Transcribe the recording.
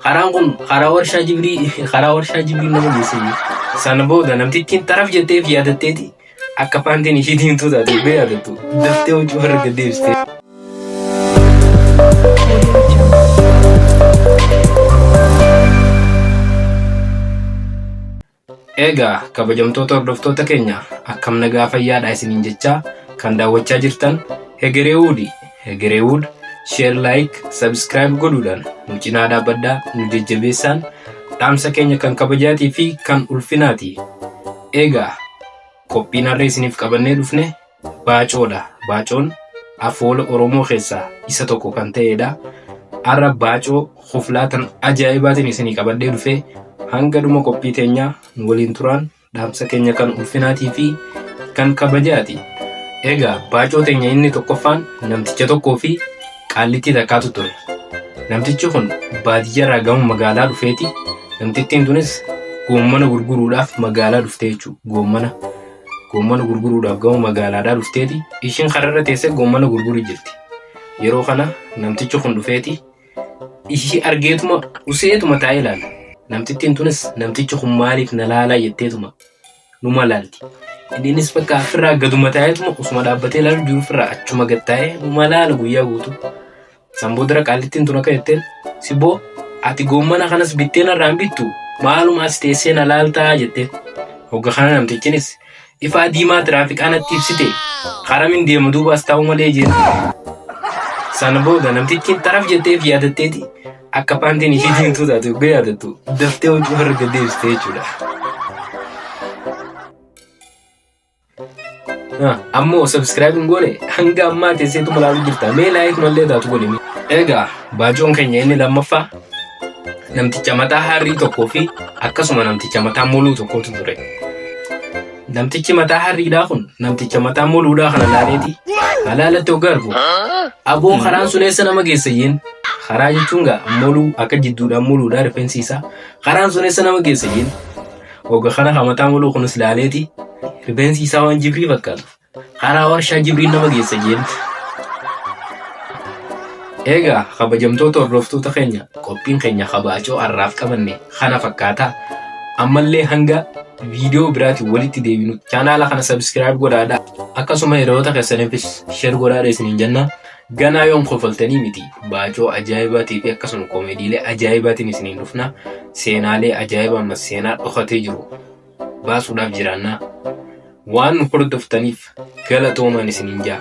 Karaan kun karaa warshaa jibrii karaa warshaa jibrii nama geesse. Sana booda namtittiin taraf jetteef yaadatteeti akka paantiin ishii diimtuu taate illee yaadattu daftee hojii warra gad deebiste. Eegaa kabajamtoota hordoftoota keenya akkam nagaa fayyaadha isiniin jechaa kan daawwachaa jirtan Hegereewuudi. Hegereewuud sheer laayik sabskiraayib godhuudhaan nu cinaa dhaabbadhaa nu jajjabeessaan dhaamsa keenya kan kabajaatii fi kan ulfinaati. Eegaa qophiin harree isiniif qabannee dhufne Baacoo dha. Baacoon afoola Oromoo keessaa isa tokko kan ta'ee dha. Har'a baacoo kuflaa tan ajaa'ibaatiin isinii qabadhee dhufee hanga dhuma qophii teenyaa nu waliin turaan dhaamsa keenya kan ulfinaatii fi kan kabajaati. Egaa baacoo teenya inni tokkoffaan namticha tokkoo fi qaallittii takkaatu ture. Namtichi kun baadiyyarraa gama magaalaa dhufeeti. Namtittiin tunis goommana gurguruudhaaf magaalaa dhufte jechuudha. Goommana. Goommana gurguruudhaaf gama magaalaadhaa dhufteeti. Ishiin kararra teessee goommana gurguru jirti. Yeroo kana namtichi kun dhufeeti. Ishii argeetuma useetuma taa'ee ilaala. Namtittiin tunis namtichi kun maaliif na laalaa jetteetuma numa laalti. Innis bakka ofirraa gaduma taa'eetuma osuma dhaabbatee ilaalu jiru ofirraa achuma gad taa'ee numa laala guyyaa guutuu. San boodara qaallittiin tun akka jetteen sibboo ati goommana kanas bittee narraan bittu maaluma as teessee na laaltaa jette. Hogga kana namtichinis ifaa diimaa tiraafikaa natti ibsite karamin deemu duuba as taa'u malee jeen. Sana booda namtichi taraf jetteef yaadatteeti akka paantiin ishii diimtuu taate hogga yaadattu daftee hojii ofirra gad deebiste jechuudha. Ammoo subscribe hin goone hanga ammaa teesseetu malaaluu jirta. Mee laayik mallee taatu godhi. Egaa baacoon keenya inni lammaffaa namticha mataa harrii tokkoo fi akkasuma namticha mataa moluu tokkotu ture. Namtichi mataa harriidhaa kun namticha mataa moluudhaa kana laaleeti halaalatti hoggaa argu aboo karaan sun eessa nama geessa jeen karaa jechuun gaa moluu akka jidduudhaan moluudhaa rifeensi isaa karaan sun eessa nama geessa jeen Oga kana hamataa muluu kunis laaleeti rifeensi isaa waan jibrii fakkaatu karaa warshaa jibrii nama geessa jeen. Egaa kabajamtoota hordoftoota keenya qophiin keenya kabaacoo har'aaf qabanne kana fakkaata. Ammallee hanga viidiyoo biraatiin walitti deebinu chaanaala kana sabiskiraayib godhaadha. Akkasuma hiriyoota keessaniifis sheer godhaadha isiniin jenna. Ganaa yoom kofaltanii miti baacoo ajaa'ibaatii fi akkasuma koomeediilee ajaa'ibaatiin isiniin dhufna seenaalee ajaa'ibaa ammas seenaa dhokatee jiru baasuudhaaf jiraannaa waan nu hordoftaniif galatoomaan isiniin jaa.